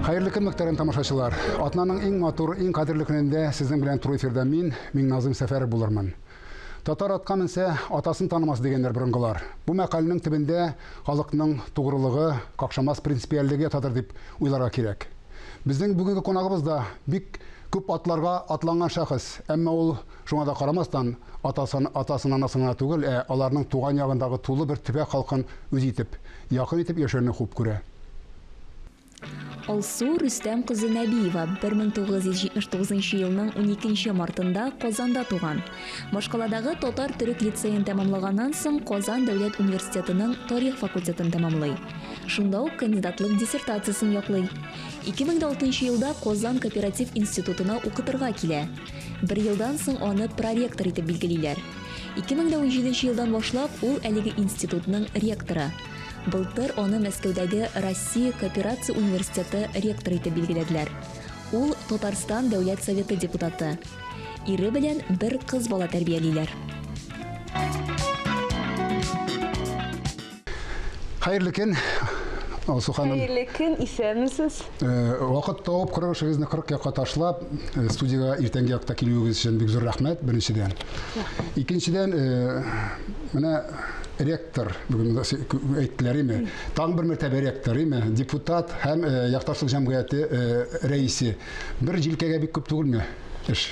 Хәерле көн, мөхтәрәм тамашачылар. Атнаның иң матур, иң кадерле көнендә сезнең белән туры эфирда мин, Миңназым Сәфәров булырмын. Татар атка менсә, атасын танымас, дигәннәр борынгылар. Бу мәкальнең төбендә халыкның тугрылыгы, какшамас принципиальлеге ятадыр дип уйларга кирәк. Безнең бүгенге кунагыбыз да бик күп атларга атланган шәхес, әмма ул, шуңа да карамастан, атасын, атасын-анасын гына түгел, ә аларның туган ягындагы тулы бер төбәк халкын үз итеп, якын итеп яшәүне хуп күрә. Алсу Рөстәм кызы Нәбиева 1979 елның 12 мартында Казанда туган. Башкаладагы татар-төрек лицеен тәмамлаганнан соң Казан дәүләт университетының тарих факультетын тәмамлый. Шунда ук кандидатлык диссертациясен яклый. 2006 елда Казан кооператив институтына укытырга килә. Бер елдан соң аны проректор итеп билгелиләр. 2017 елдан башлап ул әлеге институтның ректоры. Былтыр аны Мәскәүдәге Россия кооперация университеты ректоры итеп билгеләделәр. Ул Татарстан Дәүләт Советы депутаты. Ире белән бер кыз бала тәрбиялиләр. Хәерле көн, Алсу ханым. Хәерле көн, исәнмесез. Вакыт тауып, кырык эшегезне кырык якка ташлап, студиягә иртәнге якта килүегез өчен бик зур рәхмәт, беренчедән. Икенчедән, менә ректор ректор, бүген әйттеләр име, тагын бер мәртәбә ректор име, депутат һәм э, якташлык җәмгыяте э, рәисе. Бер җилкәгә бик күп түгелме эш?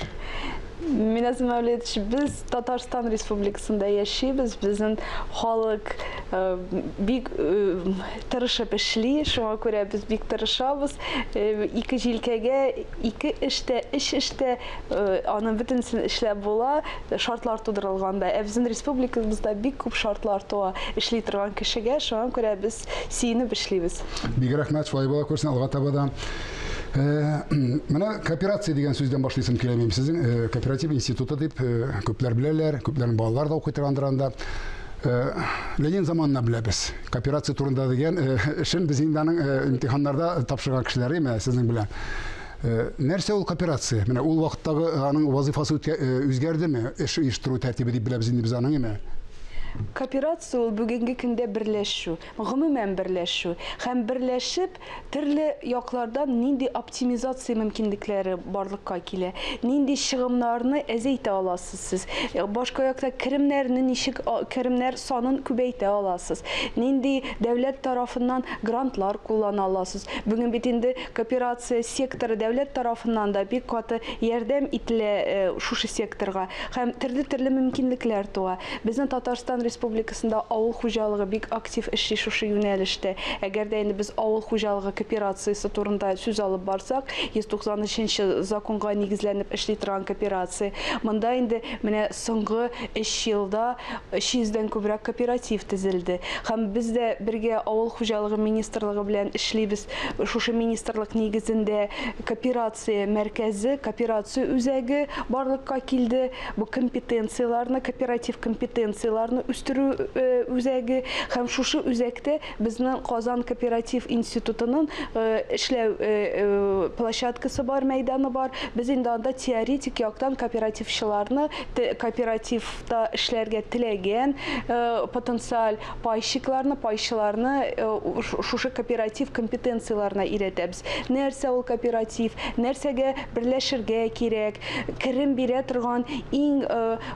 Миназ Мәүлидович, без Татарстан Республикасында яшибез, безнең халык э, бик э, тырышып эшли, шуңа күрә без бик тырышабыз. Э, ике җилкәгә, ике эштә, эш эштә, э, аның бөтенесен эшләп була. шартлар тудырылган да. Ә безнең республикабызда бик күп шартлар туа эшли торган кешегә, шуңа күрә без сөенеп эшлибез. Бик рәхмәт, шулай була күрсен алга таба да. Менә кооперация дигән сүздән башлыйсым килә минем. Сезнең кооператив институты дип күпләр беләләр, күпләрнең балалары да укый торгандыр анда. Ленин заманына беләбез. Кооперация турында дигән эшен без инде аның имтиханнарда тапшырган кешеләр име сезнең белән. Э, нәрсә ул кооперация? Менә ул вакыттагы э, аның вазыйфасы э, үзгәрдеме? Эш оештыру тәртибе дип беләбез инде без аның име? Кооперация ул бүгенге көндә берләшү, гомумән берләшү һәм берләшеп төрле яклардан нинди оптимизация мөмкинлекләре барлыкка килә, нинди чыгымнарны әзәйтә аласыз сез, башка якта керемнәрне ничек керемнәр санын күбәйтә аласыз, нинди дәүләт тарафыннан грантлар куллана аласыз. Бүген бит инде Кооперация секторы дәүләт тарафыннан да бик каты ярдәм ителә шушы секторга һәм төрле-төрле мөмкинлекләр туа. Безнең Татарстан Республикасында авыл хуҗалыгы бик актив эшли шушы юнәлештә. Әгәр дә инде без авыл хуҗалыгы кооперациясе турында сүз алып барсак, 193 нче законга нигезләнеп эшли торган кооперация. Монда инде менә соңгы өч елда 300 дән күбрәк кооператив төзелде. Һәм без дә бергә Авыл хуҗалыгы министрлыгы белән эшлибез. Шушы министрлык нигезендә кооперация мәркәзе, кооперация үзәге барлыкка килде. Бу компетенцияләрне, кооператив компетенцияләрне үстерү э, үзәге һәм шушы үзәктә безнең Казан кооператив институтының э, эшләү э, площадкасы бар, мәйданы бар. Без инде анда теоретик яктан кооперативчыларны, кооперативта эшләргә теләгән потенциаль Пайщикларны, пайчыларны шушы кооператив компетенцияләренә өйрәтәбез. Нәрсә ул кооператив, нәрсәгә берләшергә кирәк, керем бирә торган иң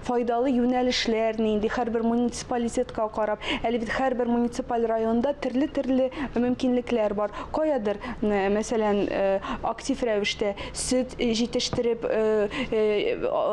файдалы юнәлешләр нинди, һәрбер муниципалитетка карап. Әле бит һәрбер муниципаль районда төрле-төрле мөмкинлекләр бар. Каядыр, мәсәлән, актив рәвештә сөт җитештереп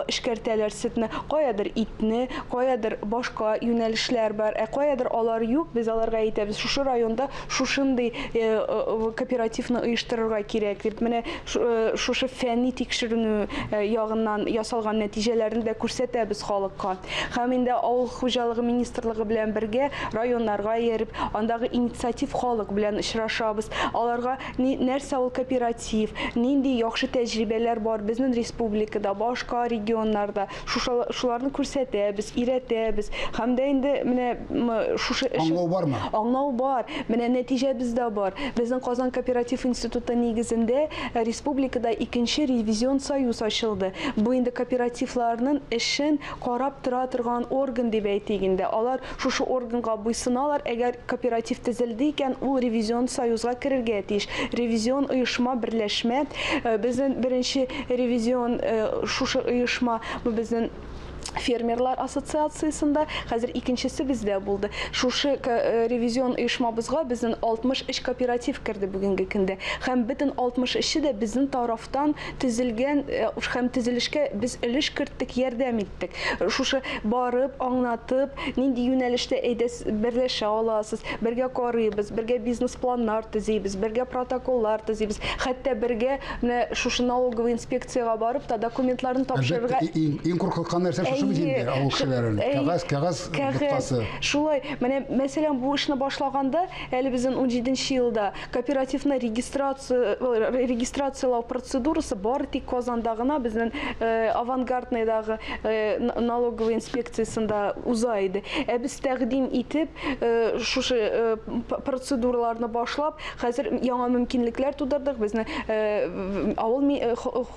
эшкәртәләр сөтне, каядыр итне, каядыр башка юнәлешләр бар. Ә каядыр алар юк, без аларга әйтәбез, шушы районда шушындый кооперативны оештырырга кирәк дип. Менә шушы фәнни тикшеренү ягыннан ясалган нәтиҗәләрне дә күрсәтәбез халыкка. Һәм инде авыл хуҗалыгы министрлыгы белән бергә районнарга ияреп, андагы инициатив халык белән очрашабыз. Аларга нәрсә ул кооператив, Тиф, нинди яхшы тәҗрибәләр бар безнен республикада, башка регионнарда, шушала шуларны күрсәтәбез, өйрәтәбез һәм дә инде менә мы шушы эш Аңлау бармы? Аңлау бар, менә нәтиҗәбез дә бар. Безнең Казан кооператив институты нигезендә республикада икенче ревизион союз ачылды. Бу инде кооперативларнын эшен карап тора торган орган дип әйтик инде. Алар Шушы органга буйсыналар, әгәр кооператив төзелде икән, ул ревизион союзга керергә тиеш. Ревизион оешма, берләшмә. Безнен беренче ревизион шушы оешма, бу безнен фермерлар ассоциациясендә, хәзер икенчесе бездә булды. Шушы ревизион оешмабызга безнен 63 кооператив керде бүгенге көндә. Һәм бөтен 63 е дә безнен тарафтан Төзелгән һәм төзелешкә без өлеш керттек, ярдәм иттек. Шушы барып, аңлатып, нинди юнәлештә әйдәс берләшә аласыз, бергә карыйбыз, бергә бизнес-планнар төзибез, бергә протоколлар төзибез, хәтта бергә менә шушы налоговый инспекциягә барып та документларны тапшырырга. Әлбәттә, иң куркыткан нәрсә шушы бит инде, авыл кешеләрен. Кәгазь, кәгазь боткасы. Кәгазь, шулай. Менә, мәсәлән, бу эшне башлаганда, әле безнең унҗиденче елда, Кооперативны регистрацияләү процедурасы бары тик Казанда гына, безнең Авангардныйдагы налоговый инспекциясендә уза иде. Ә без тәкъдим итеп, шушы процедураларны башлап, хәзер яңа мөмкинлекләр тудырдык. Безнең авыл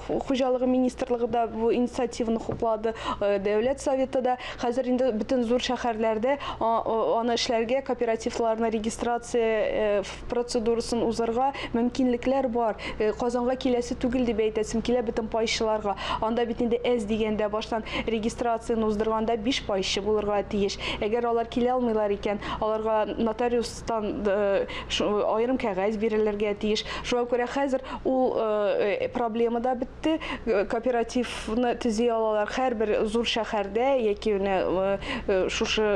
Хуҗалыгы министрлыгы да бу инициативаны хуплады, Дәүләт Советы да. Хәзер инде бөтен зур шәһәрләрдә аны эшләргә, кооперативларны регистрация процедурасын узарга мөмкинлекләр бар. Казанга киләсе түгел дип әйтәсем килә бөтен пайчыларга. Анда бит инде әз дигәндә баштан регистрацияне уздырганда биш пайчы булырга тиеш. Әгәр алар килә алмыйлар икән, аларга нотариус Тан аерым кәгазь бирелергә тиеш. Шуңа күрә хәзер ул проблема да бетте. Кооперативны төзи алалар һәрбер зур шәһәрдә яки менә шушы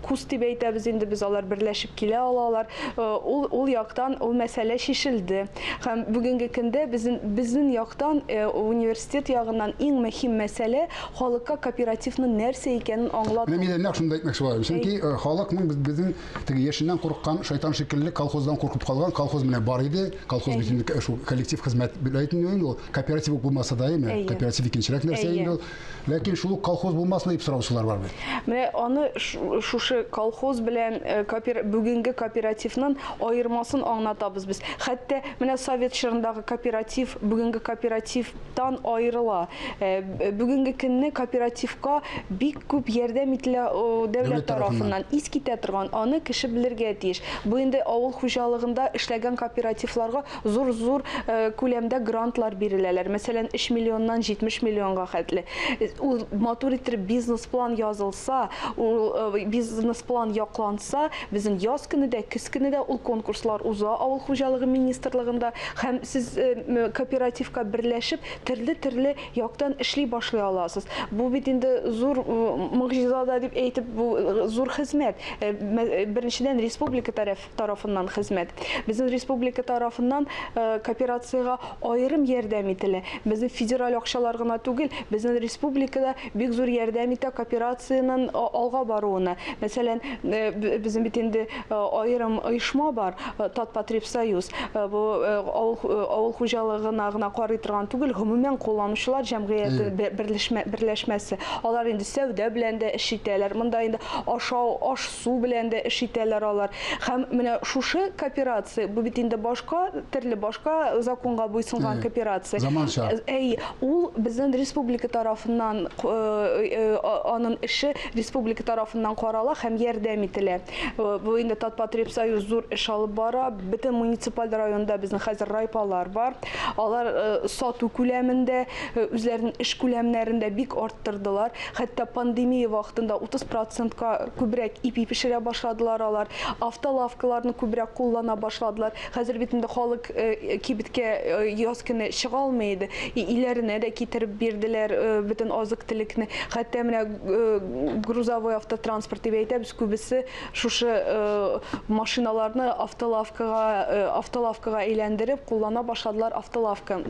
КУС дип әйтәбез инде без, алар берләшеп килә алалар. Ул ул яктан ул мәсьәлә чишелде. Һәм бүгенге көндә безнең безнең яктан университет ягыннан иң мөһим мәсьәлә халыкка кооперативның нәрсә икәнен аңлату. Менә мин дә нәкъ шуны да әйтмәкче булам. Чөнки халыкның безнең Теге яшеннән курыккан шайтан шикелле колхоздан куркып калган колхоз менә бар иде. Колхоз бит инде шул коллектив хезмәт бит инде ул. Кооператив ук булмаса да име? Кооператив икенчерәк нәрсә инде ул. Ләкин шул колхоз булмасын дип сораучылар бар бит. Менә аны шушы колхоз белән э, бүгенге кооперативның аермасын аңлатабыз без. Хәтта менә совет чорындагы кооператив, бүгенге кооператив тан аерыла. Э, бүгенге көнне кооперативка бик күп ярдәм ителә дәүләт тарафыннан. Ис китә торган, аны кеше белергә тиеш. Бу инде авыл хуҗалыгында эшләгән кооперативларга зур-зур э, күләмдә грантлар биреләләр. Мәсәлән, 3 миллионнан 70 миллионга хәтле. Э, ул матур итеп бизнес-план язылса, ул бизнес-план якланса, Безнең яз көне дә, көз көне дә ул конкурслар уза авыл хуҗалыгы министрлыгында һәм сез кооперативка берләшеп, төрле-төрле яктан эшли башлый аласыз. Бу бит инде зур могҗиза да дип әйтеп, бу зур хезмәт. Беренчедән, республика тарафыннан хезмәт. Безнең республика тарафыннан кооперациягә аерым ярдәм ителә. Безнең федераль акчалар гына түгел, безнең республикада бик зур ярдәм итә кооперациянең алга баруына. Мәсәлән, безнең бит инде аерым оешма бар, Татпотребсоюз. Бу авыл хуҗалыгына гына карый торган түгел, гомумән кулланучылар җәмгыяте берләшмәсе. Алар инде сәүдә белән дә эш итәләр. Монда инде ашау, аш-су белән дә эш итәләр алар. Һәм менә шушы кооперация, бу бит инде башка, төрле башка законга буйсынган кооперация. Заманча. Әйе, Ул безнен республика тарафыннан анын эше республика тарафыннан карала һәм ярдәм ителә. Бу инде Татпотребсоюз зур эш алып бара. Бөтен муниципаль районда безнең хәзер райпалар бар. Алар сату күләмендә, үзләренең эш күләмнәрен дә бик арттырдылар. Хәтта пандемия вакытында 30 процентка күбрәк ипи пешерә башладылар алар. Автолавкаларны күбрәк куллана башладылар. Хәзер бит инде халык кибеткә яз көне чыга алмый иде. Өйләренә дә китереп бирделәр бөтен азык-төлекне. Хәтта менә грузовой автотранспорт дип әйтәбез, күбесе шушы машиналарны автолавкага, автолавкага әйләндереп куллана башладылар, автолавка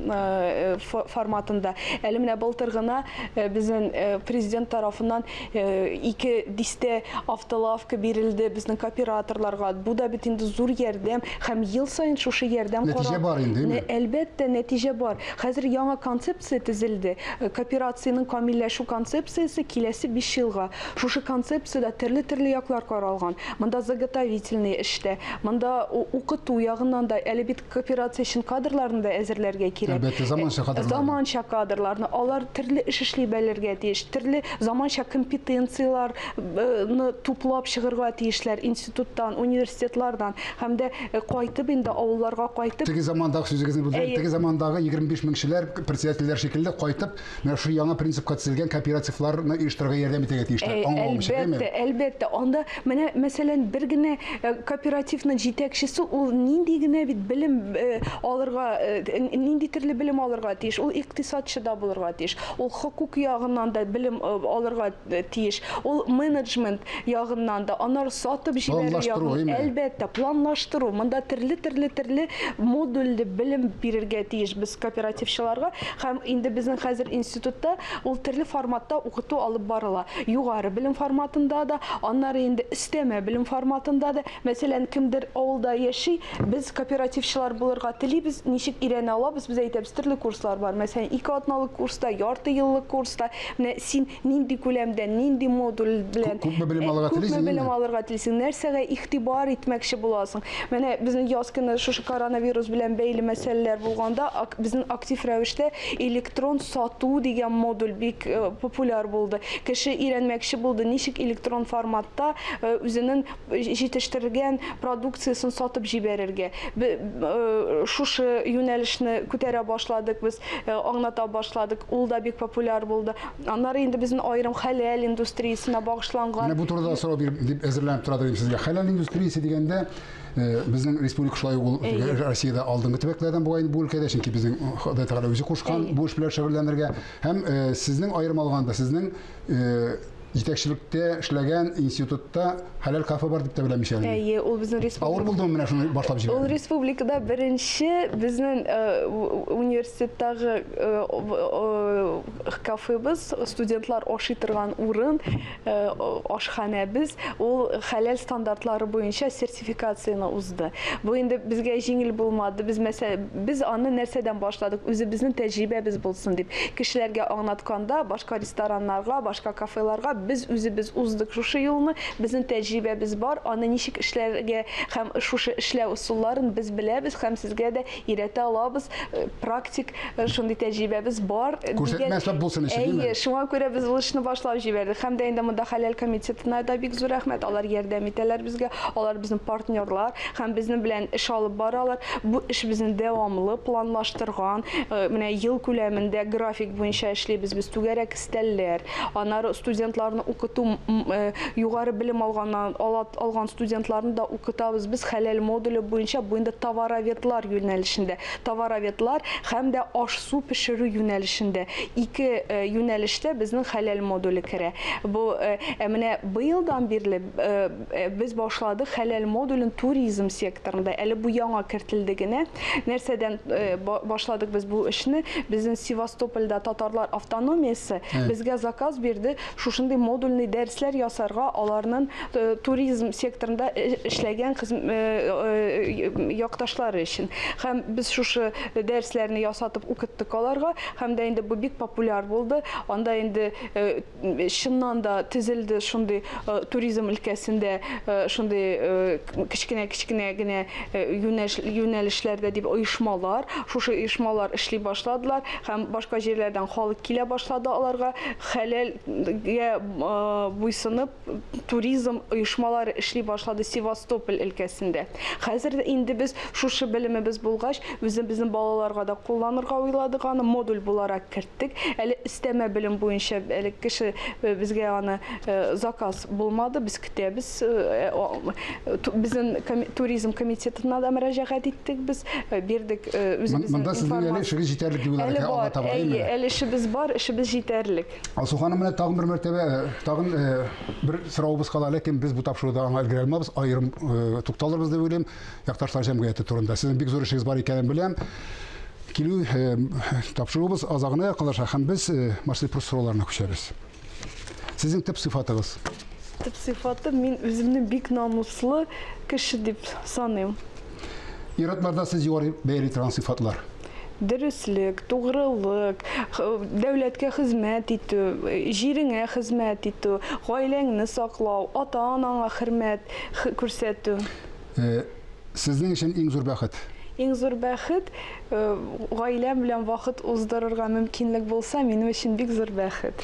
форматында. Әле менә былтыр гына безнең Президент тарафыннан Ике дистә автолавка бирелде безнең кооператорларга. Бу да бит инде зур ярдәм һәм ел саен шушы ярдәм карап. Нәтиҗә бар инде, әйме? Әлбәттә, нәтиҗә бар. Хәзер яңа концепция тезелде. Кооперациянең камилләшү концепциясе киләсе биш елга. Шушы концепциядә төрле-төрле яклар каралган. Монда заготовительный эш тә, монда укыту ягыннан да, әле бит Кооперация өчен кадрларны да әзерләргә кирәк. Әлбәттә, заманча кадрлар. Заманча кадрларны. Алар төрле эш эшли белергә тиеш, төрле заманча компетенцияләрне туплап чыгырга тиешләр институттан, университетлардан һәм дә э, кайтып инде авылларга кайтып. Теге замандагы сүзегезне бүлдем. Теге замандагы 25 меңчеләр, председательләр шикелле кайтып Менә шул яңа принципка төзелгән кооперативларны оештырырга ярдәм итәргә тиешләр. Ә, Аңлавым өчен, Әлбәттә, әйеме? әлбәттә. Анда менә, мәсәлән, бер генә э, кооперативның җитәкчесе ул нинди генә бит белем э, алырга, э, н- нинди төрле белем алырга тиеш. Ул икътисадчы да булырга тиеш. Ул хокук ягыннан да белем э, алырга Э, тиеш. Ул менеджмент ягыннан да, анар сатып җибәрү ягын, әлбәттә, планлаштыру. Монда төрле төрле төрле модульле белем бирергә тиеш без кооперативчыларга. Һәм инде безнең хәзер институтта ул төрле форматта укыту алып барыла. Югары белем форматында да, аннары инде өстәмә белем форматында да. Мәсәлән, кемдер авылда яши, без кооперативчылар булырга телибез, ничек өйрәнә алабыз? Без әйтәбез, төрле курслар бар. Мәсәлән, ике атналык курста, ярты еллык курста, Менә син нинди күләмдә, нинди модуль белән күпме белем алырга телисең? Күпме белем алырга телисең? Нәрсәгә игътибар итмәкче буласың? Менә безнең яз көне шушы коронавирус белән бәйле мәсьәләләр булганда, безнең актив рәвештә электрон сату дигән модуль бик э, популяр булды. Кеше өйрәнмәкче булды, ничек электрон форматта э, үзенең җитештергән продукциясен сатып җибәрергә. Бе, шушы юнәлешне күтәрә башладык без, аңлата башладык. Ул да бик популяр булды. Аннары инде безнең аерым хәләл индустриясенә багышланган. Менә бу турыда сорау биреп дип әзерләнеп тора дидем сезгә. Хәләл индустриясе дигәндә, безнең республика шулай ук ул Россиядә алдынгы төбәкләрдән була инде бу өлкәдә, чөнки безнең Ходай Тәгалә үзе кушкан бу эш белән шөгыльләнергә. Һәм сезнең аерым алганда, сезнең җитәкчелектә эшләгән институтта хәләл кафе бар дип тә беләмичә әле. Әйе, ул безнең республика. Авыр булдымы менә шуны башлап җибәрү? Ул республикада беренче безнең университеттагы кафебыз, студентлар ашый торган урын, ашханәбез, ул хәләл стандартлары буенча сертификат сертификацияне узды. Бу инде безгә җиңел булмады. Без мәсә, без аны нәрсәдән башладык? Үзебезнең тәҗрибәбез булсын дип, кешеләргә аңлатканда, башка рестораннарга, башка кафеларга без үзебез уздык шушы юлны, безнең тәҗрибәбез бар, аны ничек эшләргә һәм шушы эшләү ысулларын без беләбез һәм сезгә дә өйрәтә алабыз, э, практик э, шундый тәҗрибәбез бар. Э, Күрсәтмә сап булсын өчен, димме? Әйе, шуңа күрә без ул эшне башлап җибәрдек. Һәм дә инде монда хәләл комитетына да бик зур рәхмәт. Алар ярдәм итәләр безгә. Алар безнең партнерлар һәм безнең белән эш алып баралар. Бу эш безнең дәвамлы планлаштырган, менә ел күләмендә график буенча эшлибез без түгәрәк Өстәлләр, аннары студентларны укыту, югары белем алганнан, алган студентларны да укытабыз без хәләл модуле буенча, бу инде товароведлар юнәлешендә, товароведлар һәм дә аш-су пешерү юнәлешендә, ике юнәлештә безнең хәләл модуле керә. Бу, ә менә быелдан бирле, Без башладык хәләл модулен туризм секторында. Әле бу яңа кертелде генә. Нәрсәдән башладык без бу эшне? Безнең Севастопольда татарлар автономиясе безгә заказ бирде, шушындый модульный дәресләр ясарга, аларның туризм секторында эшләгән якташлары өчен. Һәм без шушы дәресләрне ясатып укыттык аларга, һәм дә инде бу бик популяр булды. Анда инде Чыннан да төзелде шундый туризм өлкәсендә шундый кечкенә-кечкенә генә юнәлешләрдә дип оешмалар. Шушы оешмалар эшли башладылар һәм башка җирләрдән халык килә башлады аларга. Хәләлгә буйсынып туризм оешмалары эшли башлады Севастополь өлкәсендә. Хәзер инде без шушы белемебез булгач, Үзебезнең балаларга да кулланырга уйладык аны, модуль буларак керттек. Әле өстәмә белем буенча әле кеше э, безгә аны э, заказ булмады, без көтәбез. Э, безнең туризм комитетына да мөрәҗәгать иттек без, бирдек үзебезнең Монда сезнең әле эшегез җитәрлек юллар әле бар, таба, әйе, әле эшебез бар, эшебез җитәрлек. Алсу ханым менә тагын бер мәртәбә, тагын бер соравыбыз кала, ләкин без бу тапшыруда аңа өлгерә алмабыз, аерым тукталырбыз дип уйлыйм. Якташлар җәмгыяте турында. Сезнең бик зур эшегез бар икәнен беләм. Килү э, тапшыруыбыз азагына якынлаша һәм без э, Марсель Прус сорауларына күчәбез. Сезнең төп сыйфатыгыз? Төп сыйфаты мин үземне бик намуслы кеше дип саныйм. Ир-атларда сез югары бәяли торган сыйфатлар? Дөреслек, тугрылык, дәүләткә хезмәт итү, җиреңә хезмәт итү, гаиләңне саклау, ата-анаңа хөрмәт күрсәтү. Э, сезнең өчен иң зур бәхет? Иң зур бәхет, э, гаиләм белән вакыт уздырырга мөмкинлек булса, минем өчен бик зур бәхет.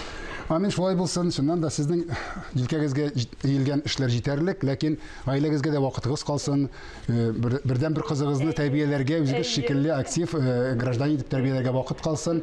Амин, шулай булсын. Чыннан да сезнең җилкәгезгә иелгән эшләр җитәрлек, ләкин гаиләгезгә дә вакытыгыз калсын. Э, бердән бер кызыгызны тәрбияләргә, үзегез шикелле актив э, гражданин итеп тәрбияләргә вакыт калсын.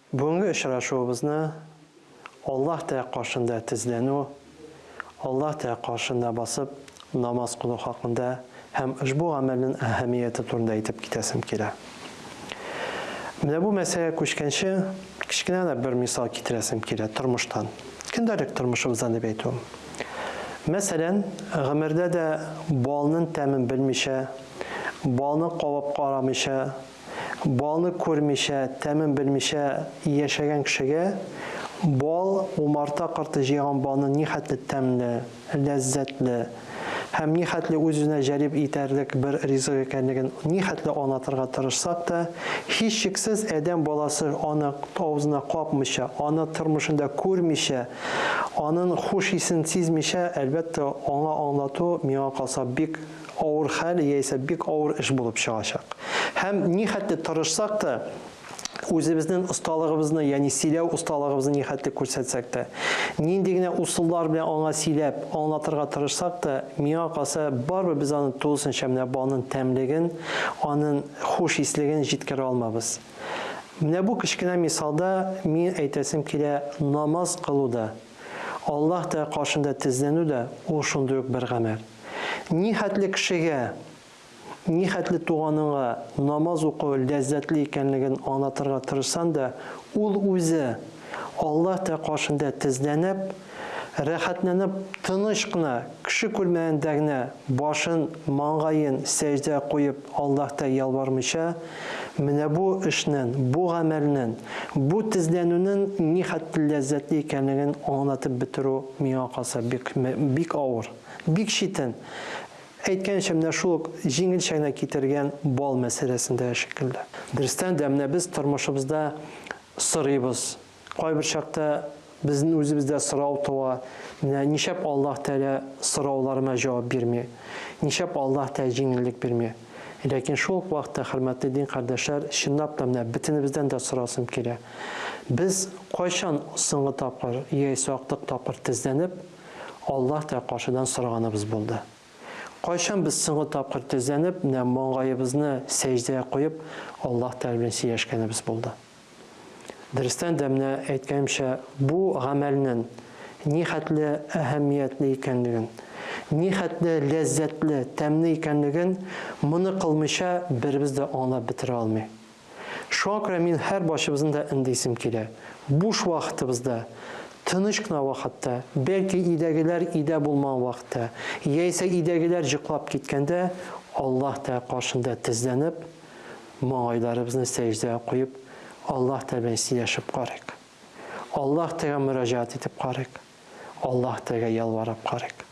Бүгенге очрашуыбызны Аллаһ Тә каршында тезләнү, Аллаһ Тә каршында басып намаз кылу хакында һәм ошбу гамәлнен әһәмияте турында әйтеп китәсем килә. Менә бу мәсьәләгә күчкәнче, кечкенә генә бер мисал китерәсем килә тормыштан, көндәлек тормышыбыздан дип әйтүем. Мәсәлән, гомердә дә балнын тәмен белмичә, балны кабып карамыйча Балны күрмичә, тәмен белмичә яшәгән кешегә бал, умарта корты җыйган балны нихәтле тәмле, ләззәтле һәм нихәтле үз-үзенә җәлеп итәрлек бер ризык икәнлеген нихәтле аңлатырга тырышсак та, һичшиксез, адәм баласы аны авызына капмыйча, аны тормышында күрмичә, анын хуш исен сизмичә, әлбәттә, аңа аңлату, миңа калса, бик. авыр хәл яисә бик авыр эш булып чыгачак. Һәм нихәтле тырышсак та, үзебезнең осталыгыбызны, ягъни сөйләү осталыгыбызны нихәтле күрсәтсәк тә, нинди генә усыллар белән аңа сөйләп, аңлатырга тырышсак та, миңа калса, барыбер без аны тулысынча менә балның тәмлеген, анын хуш ислеген җиткерә алмабыз. Менә бу кечкенә мисалда мин әйтәсем килә, намаз кылу да, Аллаһ Тәгалә каршында тезләнү дә, ул шундый ук бер гамәл. Ни хәтле кешегә, ни хәтле туганыңа намаз уку ләззәтле икәнлеген аңлатырга тырышсаң да, ул үзе, Аллаһ тә каршында тезләнеп, рәхәтләнеп, тыныч кына, кеше күрмәгәндә генә башын, маңгаен сәҗдә куеп Аллаһта ялвармыйча, менә бу эшнен, бу гамәлнен, бу тезләнүнен ни хәтле ләззәтле икәнлеген аңлатып бетерү миңа калса бик, бик авыр. Бик читен. Әйткәнчә, менә шул ук җиңел чәйне китергән бал мәсьәләсендә шикелле. Дөрестән дә, менә без тормышыбызда сорыйбыз. Кайбер чакта безнең үзебездә сорау туа, менә ничәп Аллаһ Тәгалә сорауларыма җавап бирми? Ничәп Аллаһ Тәгалә җиңеллек бирми? Ләкин шул ук вакытта, хөрмәтле дин кардәшләр, чынлап та менә бөтенебездән дә сорасым килә. Без кайчан соңгы тапкыр, яисә актык тапкыр тезләнеп, Аллаһ та каршыдан сораганыбыз булды. Кайчан без соңгы тапкыр тезләнеп, менә маңгаебызны сәҗдәгә куеп, Аллаһ Тәгалә белән сөйләшкәнебез булды? Дөрестән дә, менә әйткәнемчә, бу гамәлнен нихәтле әһәмиятле икәнлеген, нихәтле ләззәтле, тәмле икәнлеген моны кылмыйча беребез дә аңлап бетерә алмый. Шуңа күрә мин һәр барчыбызны да эндисем килә. Буш вакытыбызда, тыныч кына вакытта, бәлки өйдәгеләр өйдә булмаган вакытта, яисә өйдәгеләр йоклап киткәндә Аллаһ Тәгалә каршында тезләнеп, маңгайларыбызны сәҗдәгә куеп, Аллаһ Тәгалә белән сөйләшеп карыйк. Аллаһ Тәгаләгә мөрәҗәгать итеп карыйк. Аллаһ Тәгаләгә ялварып карыйк.